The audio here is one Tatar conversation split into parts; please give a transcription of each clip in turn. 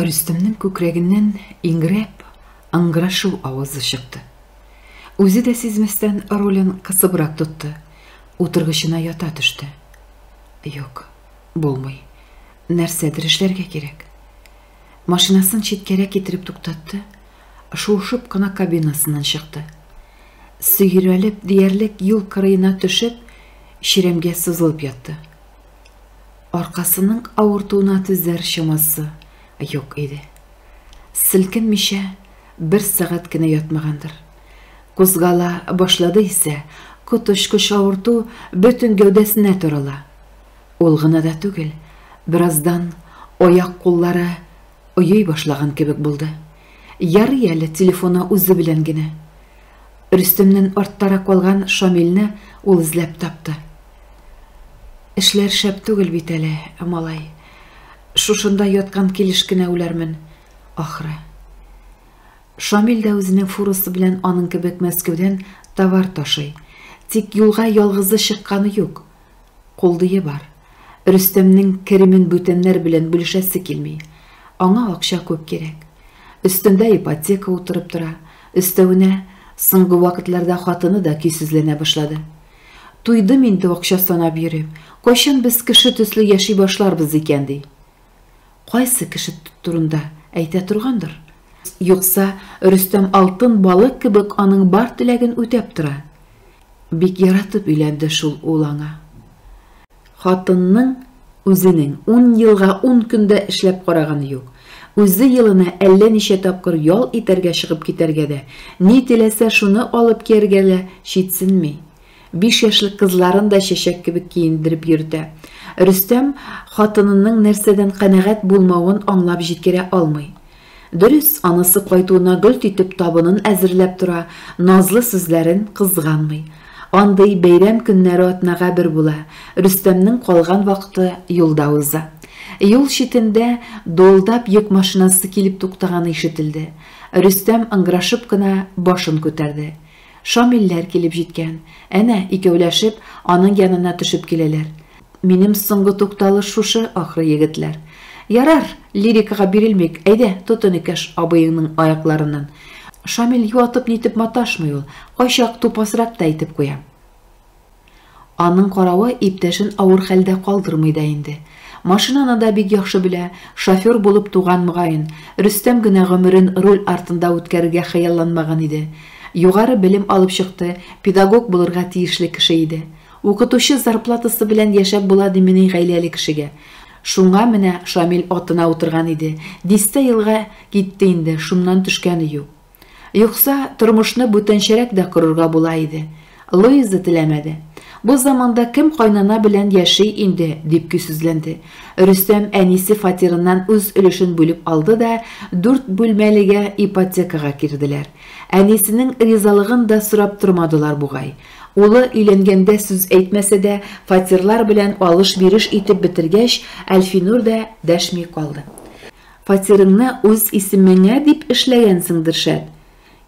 Рөстәмнең күкрәгеннән иңрәп, ыңгырашу авазы чыкты. Үзе дә сизмәстән рулен кысыбрак тотты, утыргычына ята төште. Юк, булмый. Нәрсәдер эшләргә кирәк. Машинасын читкәрәк китереп туктатты, шуышып кына кабинасыннан чыкты. Сөйрәлеп диярлек юл кырыена төшеп, чирәмгә сызылып ятты. Аркасының авыртуына түзәр чамасы юк иде. Селкенмичә бер сәгать кенә ятмагандыр. Кузгала башлады исә, коточкыч авырту бөтен гәүдәсенә тарала. Ул гына да түгел, бераздан аяк-куллары Ойый башлаган кебек булды. Ярый әле телефоны үзе белән генә. Рөстемнән арттарак калган Шамилне ул эзләп тапты. Эшләр шәп түгел бит әле, малай. Шушында яткан килеш кенә үләрмен, ахры. Шамил дә үзенең фурасы белән аның кебек Мәскәүдән товар ташый. Тик юлга ялгызы чыкканы юк. Кулдые бар. Рөстәмнең керемен бүтәннәр белән бүлешәсе килми. Аңа акча күп кирәк. Өстендә ипотека утырып тора, өстәвенә, соңгы вакытларда хатыны да көйсезләнә башлады. Туйдым инде акча санап йөреп, кайчан без кеше төсле яши башларбыз икән, ди. Кайсы кеше турында әйтә торгандыр? Юкса, Рөстәм алтын балык кебек аның бар теләген үтәп тора. Бик яратып өйләнде шул ул аңа. Хатынның үзенең ун елга ун көндә эшләп караганы юк. Үзе елына әллә ничә тапкыр ял итәргә чыгып китәргә дә, ни теләсә шуны алып кияргә дә читсенми. Биш яшьлек кызларын да чәчәк кебек киендереп йөртә. Рөстәм хатынының нәрсәдән канәгать булмавын аңлап җиткерә алмый. Дөрес, анасы кайтуына гөлт итеп табынын әзерләп тора, назлы сүзләрен кызганмый. Андый бәйрәм көннәре атнага бер була, Рөстәмнең калган вакыты юлда уза. Юл читендә дуылдап йөк машинасы килеп туктаганы ишетелде. Рөстәм ыңгырашып кына башын күтәрде. Шамилләр килеп җиткән. Әнә, икәүләшеп, аның янына төшеп киләләр. Минем соңгы тукталыш шушы, ахры, егетләр. Ярар, лирикага бирелмик, әйдә, тот энекәш абыеңның аякларыннан. Шамил юатып-нитеп маташмый ул, кайчак тупасрак та әйтеп куя. Аның каравы иптәшен авыр хәлдә калдырмый да инде. Машинаны да бик яхшы белә, шофер булып туган, мөгаен. Рөстәм генә гомерен руль артында үткәрергә хыялланмаган иде. Югары белем алып чыкты, педагог булырга тиешле кеше иде. Укытучы зарплатасы белән яшәп була димени гаиләле кешегә? Шуңа менә Шамил атына утырган иде. Дистә елга китте инде, шуннан төшкәне юк. Юкса, тормышны бүтәнчәрәк дә корырга була иде. Луиза теләмәде. Бу заманда кем кайнана белән яши инде, дип көйсезләнде. Рөстәм әнисе фатирыннан үз өлешен бүлеп алды да, дүрт бүлмәлегә ипотекага кирделәр. Әнисенең ризалыгын да сорап тормадылар бугай. Улы өйләнгәндә сүз әйтмәсә дә, фатирлар белән алыш-биреш итеп бетергәч, Әлфинур да дәшми калды. Фатирыңны үз исемеңә дип эшләгәнсеңдер шәт.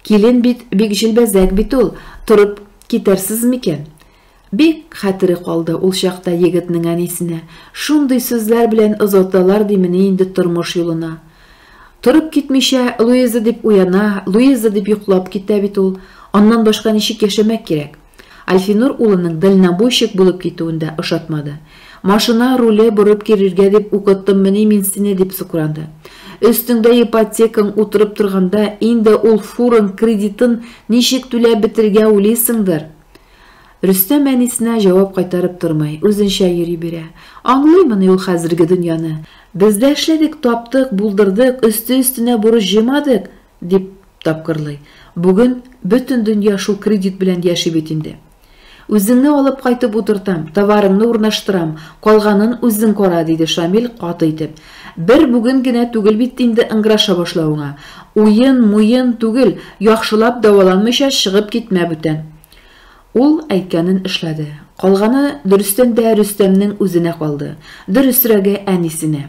Килен бит бик җилбәзәк бит ул, торып китәрсез микән? Бик хәтере калды ул чакта егетнең әнисенә шундый сүзләр белән озаталар димени инде тормыш юлына. Торып китмичә, Луиза дип уяна, Луиза дип йоклап китә бит ул. Аннан башка ничек яшәмәк кирәк? Альфинур улының дальнобойщик булып китүен дә ошатмады. Машина руле борып керергә дип укыттыммыни мин сине, дип сукранды. Өстеңдә ипотекаң утырып торганда, инде ул фуран кредитын ничек түләп бетерергә уйлыйсыңдыр? Рөстәм әнисенә җавап кайтарып тормый, үзенчә йөри бирә. Аңлыймыни ул хәзерге дөньяны? Без дә эшләдек, таптык, булдырдык, өсте-өстенә бурыч җыймадык, Дип тапкырлый. Бүген бөтен дөнья шул кредит белән яши бит инде. Үзеңне алып кайтып утыртам, товарыңны урнаштырам, калганын үзең кара, диде Шамил каты итеп. Бер бүген генә түгел бит инде ыңгыраша башлавыңа. Уен, муен түгел, яхшылап дәваланмыйча чыгып китмә бүтән. Ул әйткәнен эшләде. Калганы, дөрестән дә, Рөстәмнең үзенә калды. Дөресрәге, әнисенә.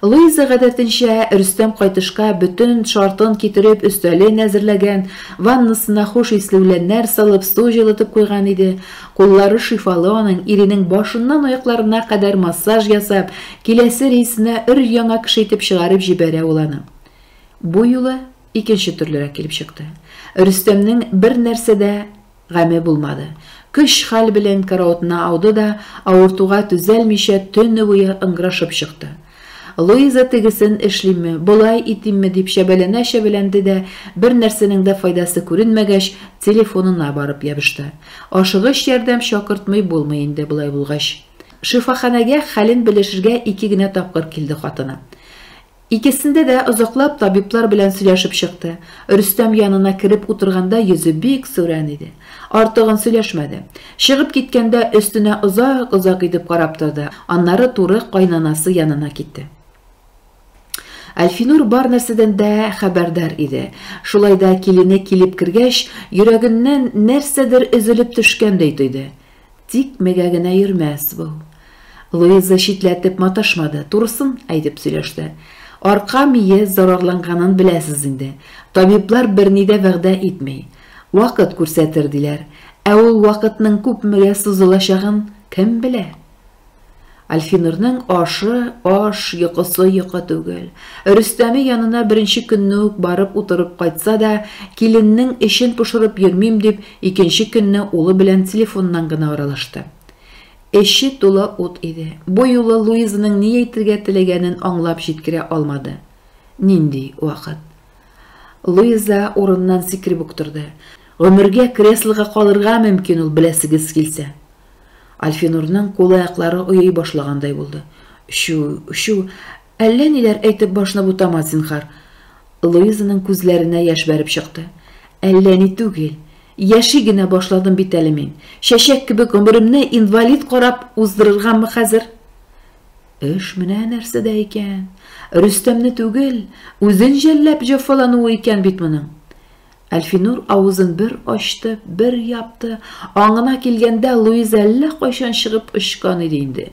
Луиза, гадәтенчә, Рөстәм кайтышка бөтен шартын китереп, өстәлен әзерләгән, ваннасына хуш исле үләннәр салып, су җылытып куйган иде. Куллары шифалы аның, иренең башыннан аякларына кадәр массаж ясап, киләсе рейсына өр-яңа кеше итеп чыгарып җибәрә ул аны. Бу юлы Икенче төрлерәк килеп чыкты. Рөстәмнең бер нәрсә дә гаме булмады. Көч-хәл белән караотына ауды да, авыртуга түзәлмичә, төне буе ыңгырашып чыкты. Луиза тегесен эшлимме, болай итимме дип чәбәләнә-чәбәләнде дә, бер нәрсәнең дә файдасы күренмәгәч, телефонына барып ябышты. Ашыгыч ярдәм чакыртмый булмый инде болай булгач. Шифаханәгә хәлен белешергә ике генә тапкыр килде хатыны. Икесендә дә озаклап табиблар белән сөйләшеп чыкты. Рөстәм янына кереп утырганда йөзе бик сүрән иде. Артыгын сөйләшмәде. Чыгып киткәндә өстенә озак-озак итеп карап торды, аннары туры кайнанасы янына китте. Әлфинур бар нәрсәдән дә хәбәрдар иде. Шулай да килене килеп кергәч, йөрәгеннән нәрсәдер өзелеп төшкәндәй тойды. Тикмәгә генә йөрмәс бу. Луиза читләтеп маташмады, турысын әйтеп сөйләште. Арка мие зарарланганын беләсез инде. Табиблар берни дә вәгъдә итми. Вакыт күрсәтер, диләр. Ә ул вакытның күпмегә сузылачагын кем белә? Альфинурның ашы, аш, йокысы йокы түгел. Рөстәме янына беренче көнне үк барып утырып кайтса да, киленнең эчен пошырып йөрмим дип, икенче көнне улы белән телефоннан гына аралашты. Эче тулы ут иде. Бу юлы Луизаның ни әйтергә теләгәнен аңлап җиткерә алмады. Нинди вакыт? Луиза урыннан сикереп үк торды. Гомергә креслога калырга мөмкин ул, беләсегез килсә. Альфинурның кул-аяклары оей башлагандай булды. Чү, чү, әллә ниләр әйтеп башны бутама, зинһар. Луизаның күзләренә яшь бәреп чыкты. Әллә ни түгел. Яши генә башладым бит әле мин. Чәчәк кебек гомеремне инвалид карап уздырыргамы хәзер? Эш менә нәрсәдә икән. Рөстәмне түгел, үзен жәлләп җәфалануы икән бит моның. Әлфинур авызын бер ачты, бер япты. Аңына килгәндә, Луиза әллә кайчан чыгып очкан иде инде.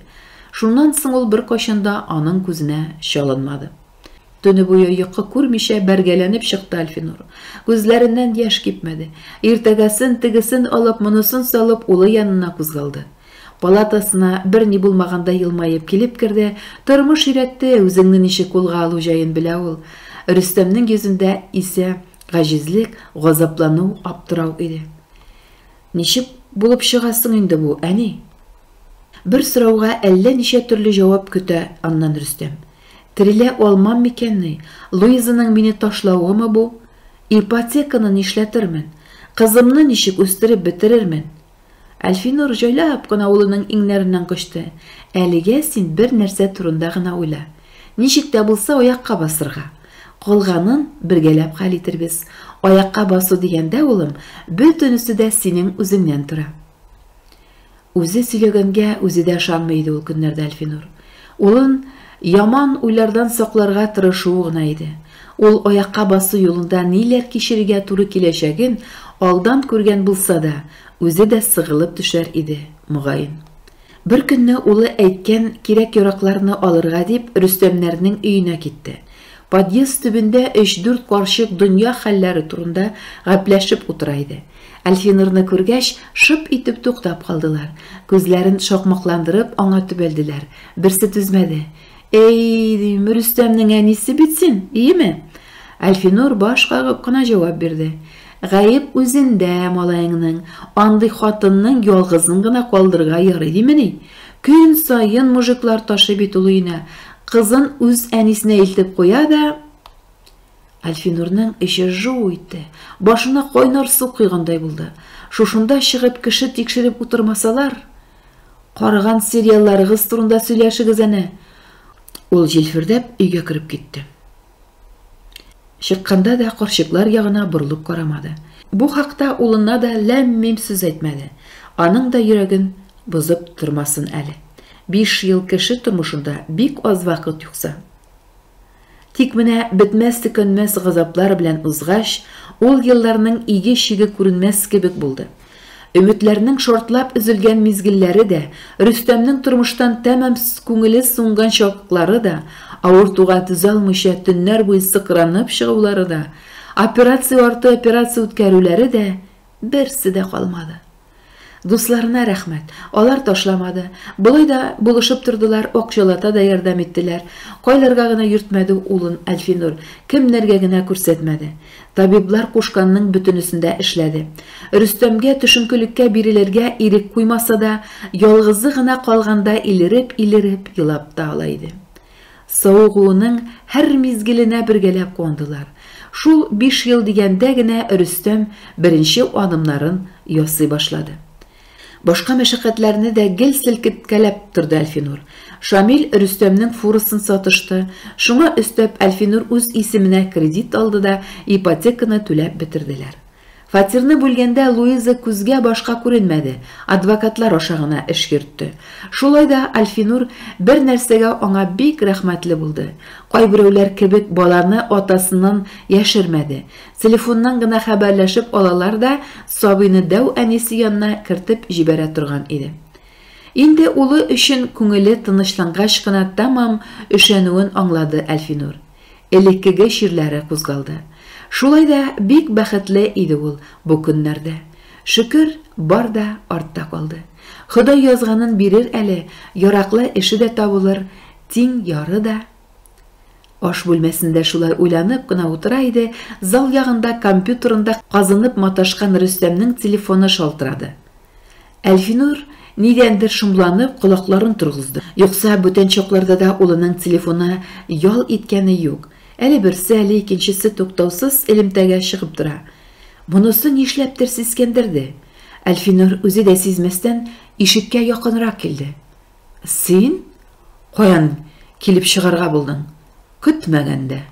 Шуннан соң ул беркайчан да аның күзенә чалынмады. Төне буе йокы күрмичә бәргәләнеп чыкты Әлфинур. Күзләреннән яшь кипмәде. Иртәгәсен, тегесен алып, монысын салып, улы янына кузгалды. Палатасына бер ни булмагандай елмаеп килеп керде, тормыш өйрәтте, үзеңне ничек кулга алу җаен белә ул. Рөстәмнең йөзендә исә Гаҗизлек, газаплану, аптырау иде. Ничек булып чыга соң инде бу, әни? Бер сорауга әллә ничә төрле җавап көтә аннан Рөстәм. Терелә алмам микәнни? Луизаның мине ташлавымы бу? Ипотеканы нишләтермен? Кызымны ничек үстереп бетерермен? Әлфинур җайлап кына улының иңнәреннән кочты. Әлегә син бер нәрсә турында гына уйла. Ничек тә булса аякка басырга. Калганын бергәләп хәл итербез. Аякка басу дигәндә, улым, бөтенесе дә синең үзеңнән тора. Үзе сөйләгәнгә үзе дә ышанмый иде ул көннәрдә Әлфинур. Улын яман уйлардан сакларга тырышуы гына иде. Ул аякка басу юлында ниләр кичерергә туры киләчәген алдан күргән булса да, үзе дә сыгылып төшәр иде, мөгаен. Беркөнне улы әйткән кирәк-яракларны алырга дип Рөстәмнәрнең өенә китте. Подъезд төбендә өч-дүрт карчык дөнья хәлләре турында гәпләшеп утыра иде. Әлфинурны күргәч, шып итеп туктап калдылар. Күзләрен шакмакландырып, аңа төбәлделәр. Берсе түзмәде. Әй, дим, Рөстәмнең әнисе бит син, иеме? Әлфинур баш кагып кына җавап бирде. Гаеп үзендә, малаеңның. Андый хатынның ялгызын гына калдырырга ярый димени? Көн саен мужиклар ташый бит ул өенә. Кызын үз әнисенә илтеп куя да. Әлфинурның эче жу итте, башына кайнар су койгандай булды. Шушында чыгып кеше тикшереп утырмасалар, караган сериалларыгыз турында сөйләшегез әнә. Ул җилфердәп өйгә кереп китте. Чыкканда да карчыклар ягына борылып карамады. Бу хакта улына да ләм-мим сүз әйтмәде. Аның да йөрәген бозып тормасын әле. Биш ел кеше тормышында бик аз вакыт юкса. Тик менә бетмәс-төкәнмәс газаплар белән узгач, ул елларның иге-чиге күренмәс кебек булды. Өметләрнең шартлап өзелгән мизгелләре дә, Рөстәмнең тормыштан тәмам күңеле сунган чаклары да, авыртуга түзалмыйча төннәр буе сыкранып чыгулары да, операция арты операция үткәрүләре дә, берсе дә калмады. Дусларына рәхмәт. Алар ташламады. Болай да булышып тордылар, акчалата да ярдәм иттеләр. Кайларга гына йөртмәде улын Әлфинур, кемнәргә генә күрсәтмәде. Табиблар кушканның бөтенесен дә эшләде. Рөстәмгә төшенкелеккә бирелергә ирек куймаса да, ялгызы гына калганда илереп-илереп елап та ала иде. Савыгуының һәр мизгеленә бергәләп куандылар. Шул биш ел дигәндә генә Рөстәм беренче адымнарын ясый башлады. Башка мәшәкатьләрне дә гел селкеткәләп торды Әлфинур. Шамил Рөстәмнең фурасын сатышты, шуңа өстәп Әлфинур үз исеменә кредит алды да ипотеканы түләп бетерделәр. Фатирны бүлгәндә Луиза күзгә башка күренмәде, адвокатлар аша гына эш йөртте. Шулай да Альфинур бер нәрсәгә аңа бик рәхмәтле булды, кайберәүләр кебек баланы атасыннан яшермәде, телефоннан гына хәбәрләшеп алалар да сабыйны дәү әнисе янына кертеп җибәрә торган иде. Инде улы өчен күңеле тынычлангач кына тәмам өшәнүен аңлады Альфинур. Элеккеге чирләре кузгалды. Шулай да бик бәхетле иде ул бу көннәрдә. Шөкер, бар да артта калды. Ходай язганын бирер әле, яраклы эше дә табылыр, тиң яры да. Аш бүлмәсендә шулай уйланып кына утыра иде, зал ягында компьютерында казынып маташкан Рөстәмнең телефоны шалтырады. Әлфинур, нидәндер шомланып, колакларын торгызды. Юкса, бүтән чакларда да улының телефоны ял иткәне юк. Әле берсе, әле икенчесе туктаусыз элемтәгә чыгып тора. Монысы нишләптер сискәндерде. Әлфинур үзе дә сизмәстән ишеккә якынрак килде. Син каян килеп чыгарга булдың? Көтмәгәндә.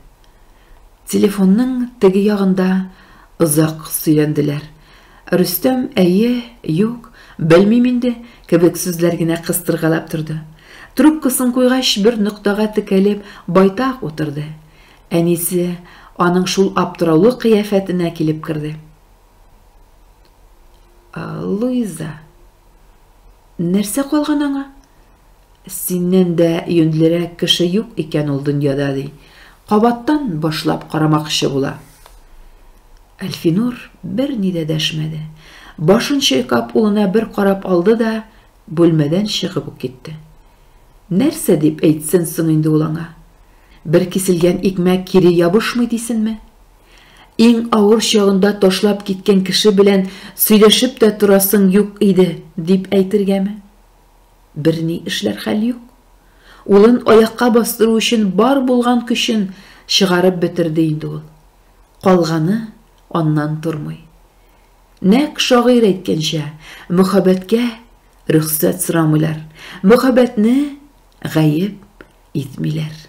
Телефонның теге ягында озак сөйләнделәр. Рөстәм әйе, юк, белмим инде кебек сүзләр генә кыстыргалап торды. Трубкасын куйгач, бер ноктага текәлеп, байтак утырды. Әнисе аның шул аптыраулы кыяфәтенә килеп керде. Луиза. Нәрсә калган аңа? Синнән дә юньлерәк кеше юк икән ул дөньяда, ди. Кабаттан башлап карамакчы була. Әлфинур берни дә дәшмәде. Башын чайкап улына бер карап алды да, бүлмәдән чыгып ук китте. Нәрсә дип әйтсен соң инде ул аңа? Бер киселгән икмәк кире ябышмый дисенме? Иң авыр чагында ташлап киткән кеше белән сөйләшеп тә торасың юк иде, дип әйтергәме? Берни эшләр хәл юк. Улын аякка бастыру өчен бар булган көчен чыгарып бетерде инде ул. Калганы аннан тормый. Нәкъ шагыйрь әйткәнчә, мөхәббәткә рөхсәт сорамыйлар, мөхәббәтне гаеп итмиләр.